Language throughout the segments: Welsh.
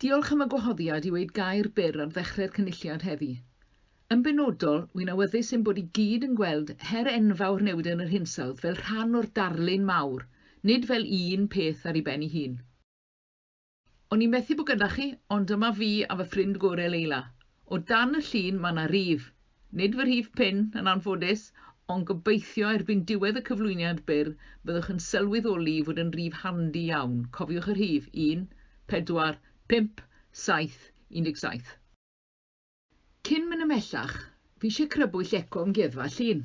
Diolch am y gwahoddiad i weud gair byr ar ddechrau'r Cynulliad heddi. Yn benodol, wy'n awyddus ein bod i gyd yn gweld her enfawr newid yn yr hinsawdd fel rhan o'r darlun mawr, nid fel un peth ar ei ben ei hun. O'n i methu bo gyda chi, ond dyma fi a fy ffrind gore Leila. O dan y llun ma na rif. Nid fy rhif pin, yn anffodus, ond gobeithio erbyn diwedd y cyflwyniad byr byddwch yn sylweddoli fod yn rif handi iawn, cofiwch y rhif, un, pedwar, pump, saith, un deg saith. Cyn mynd ymhellach, fi isie crybwyll eco Amgueddfa Llŷn.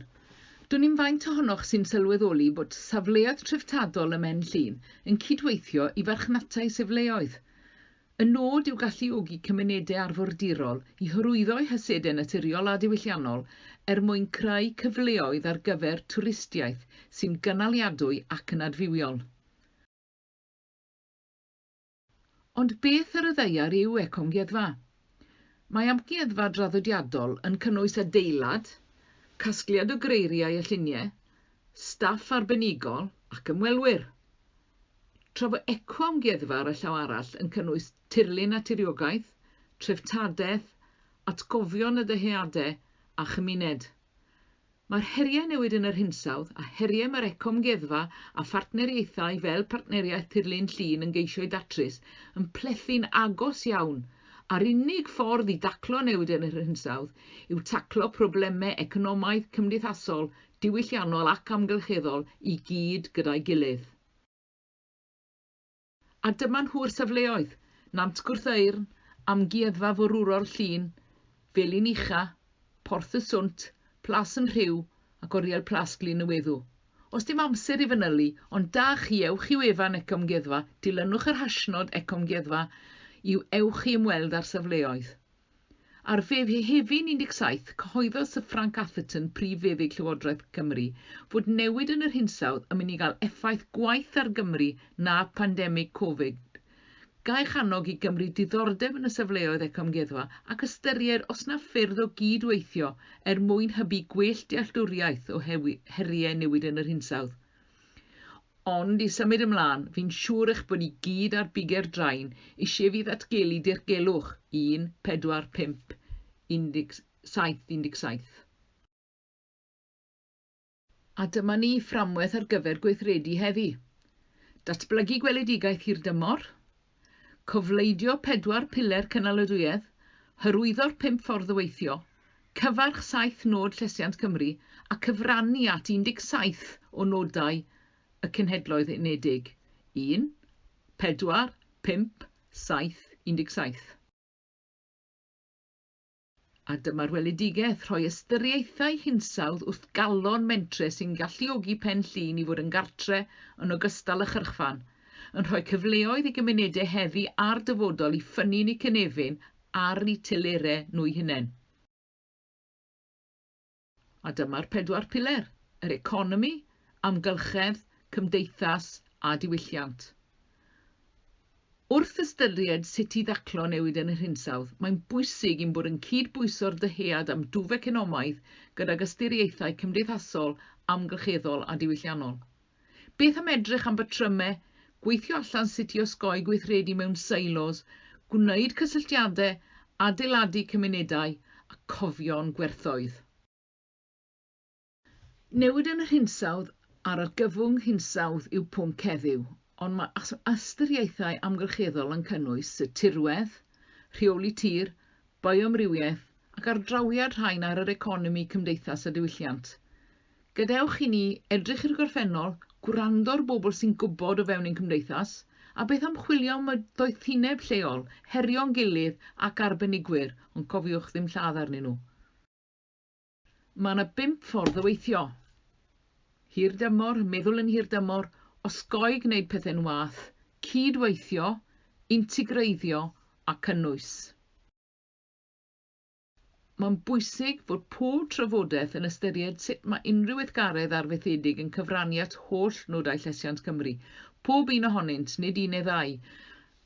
Dwn i'm faint ohonoch sy'n sylweddoli bod safleoedd treftadol ym Mhen Llŷn yn cydweithio i farchnatau sifleoedd. Y nod yw galluogi cymunedau arfordirol i hyrwyddo'u hysedau naturiol a diwylliannol er mwyn creu cyfleoedd ar gyfer twristiaeth sy'n gynaliadwy ac yn adfywiol. Ond beth ar y ddaear yw ecoamgueddfa? Mae amgueddfa draddodiadol yn cynnwys adeilad, casgliad o greiriau a lluniau, staff arbenigol ac ymwelwyr. Tra fo ecoamgueddfa ar y llaw arall yn cynnwys tirlun a tiriogaeth, treftadaeth, atgofion y dyheadau a chymuned. Mae'r heriau newid yn yr hinsawdd, a heriau mae'r ecoamgueddfa a phartneriaethau fel Partneriaeth Tirlun Llŷn yn geisio'u datrys, yn plethu'n agos iawn. A'r unig ffordd i daclo newid yn yr hinsawdd yw taclo problemau economaidd, cymdeithasol, diwylliannol ac amgylcheddol i gyd gyda'i gilydd. A dyma nhw'r safleoedd, Nant Gwrtheyrn, Amgueddfa Forwrol Llŷn, Felin Ucha, Porth y Swnt, Plas yn Rhiw ac Oriel Plas Glyn y Weddw. Os dim amser i fanylu, ond da chi, ewch i wefan Ecomgueddfa, dilynwch yr hashnod Ecomgueddfa i ewch i ymweld â'r safleoedd. Ar Fehefin 17, cyhoeddodd Syr Frank Atherton, Prif Feddyg Llywodraeth Cymru, fod newid yn yr hinsawdd yn mynd i gael effaith gwaeth ar Gymru na phandemig Covid. Gaiff annog i Gymru diddordeb yn y safleoedd ecoamgueddfa ac ystyried os na ffyrdd o gyd-weithio er mwyn hybu gwell dealltwriaeth o heriau newid yn yr hinsawdd. Ond i symud ymlân, fi'n siŵr eich bod ni gyd ar buger drain isie fi ddatgelu dirgelwch, un, pedwar, pump, un deg saith, un deg saith. A dyma ni, fframwaith ar gyfer gweithredu heddi. Datblygu gweledigaeth hirdymor, cofleidio pedwar piler cynaliadwyedd, hyrwyddo'r pump ffordd o weithio, cyfarch saith nod Llesiant Cymru a cyfrannu at 17 o nodau y Cenhedloedd Unedig, un, pedwar, pump, saith, 17. A dyma'r weledigaeth, rhoi ystyriaethau hinsawdd wrth galon mentre sy'n galluogi Pen Llŷn i fod yn gartre yn ogystal â chyrchfan, yn rhoi cyfleoedd i gymunedau heddi a'r dyfodol i ffynnu'n eu cynefin ar eu telerau nhw'u hunain. A dyma'r pedwar piler, yr economi, amgylchedd, cymdeithas a diwylliant. Wrth ystyried sut i ddaclo newid yn yr hinsawdd, mae'n bwysig i'n bod yn cyd-bwyso'r dyhead am dwf economaidd gydag ystyriaethau cymdeithasol, amgylcheddol a diwylliannol. Beth am edrych am batrymau, gweithio allan sut i osgoi gweithredu mewn silos, gwneud cysylltiadau, adeiladu cymunedau a cofio'n gwerthoedd. Newid yn yr hinsawdd a'r argyfwng hinsawdd yw pwnc heddiw, ond mae ystyriaethau amgylcheddol yn cynnwys y tirwedd, rheoli tir, bioamrywiaeth ac ardrawiad rhain ar yr economi, cymdeithas a diwylliant. Gadewch i ni edrych i'r gorffennol, gwrando ar bobl sy'n gwybod o fewn ein cymdeithas, a beth am chwilio am y doethineb lleol, herio'n gilydd ac arbenigwyr, ond cofiwch ddim lladd arnyn nhw. Mae yna bump ffordd o weithio. Hirdymor, meddwl yn hirdymor, osgoi gwneud pethau'n wath, cyd-weithio, integreiddio a cynnwys. Mae'n bwysig fod pob trafodaeth yn ystyried sut mae unrhyw weithgaredd arfaethedig yn cyfrannu at holl nodau llesiant Cymru, pob un ohonynt, nid un neu ddau,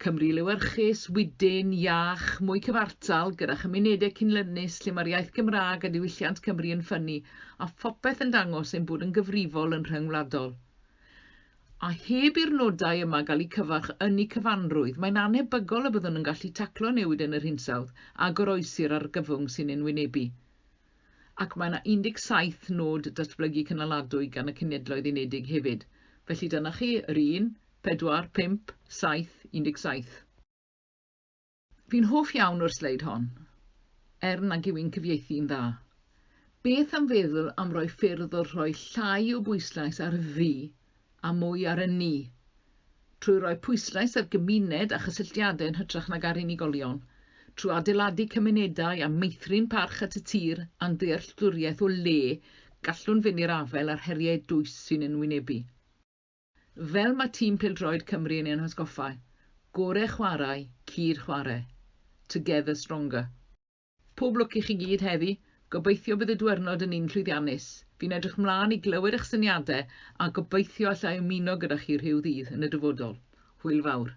Cymru lewyrchus, wydyn, iach, mwy cyfartal, gyda chymunedau cynlynus lle mae'r iaith Gymraeg a diwylliant Cymru yn ffynnu, a phopeth yn dangos ein bod yn gyfrifol yn rhyngwladol. A heb i'r nodau yma gael eu cyfarch yn eu cyfanrwydd, mae'n annhebygol y byddwn yn gallu taclo newid yn yr hinsawdd a goroesi'r argyfwng sy'n ein wynebu. Ac mae yna 17 nod datblygu cynaladwy gan y Cenhedloedd Unedig hefyd. Felly dyna chi, yr un, pedwar, pump, saith, 17. Fi'n hoff iawn o'r sleid hon, er nag yw i'n cyfieithu'n dda. Beth am feddwl am roi ffyrdd o rhoi llai o bwyslais ar fi a mwy ar y ni, trwy roi pwyslais ar gymuned a chysylltiadau yn hytrach nag ar unigolion, trwy adeiladu cymunedau a meithrin parch at y tir a'n ddealltwriaeth o le gallwn fynd i'r afael â'r heriau dwys sy'n ein wynebu. Fel mae tîm pêl-droed Cymru yn ein hatgoffa, gore chwarae, cyd chwarae. Together stronger. Pob lwc i chi gyd heddi, gobeithio bydd y dwyrnod yn un llwyddiannus. Fi'n edrych mlân i glywed eich syniadau a gobeithio alla i ymuno gyda chi rhyw ddydd yn y dyfodol. Hwyl fawr.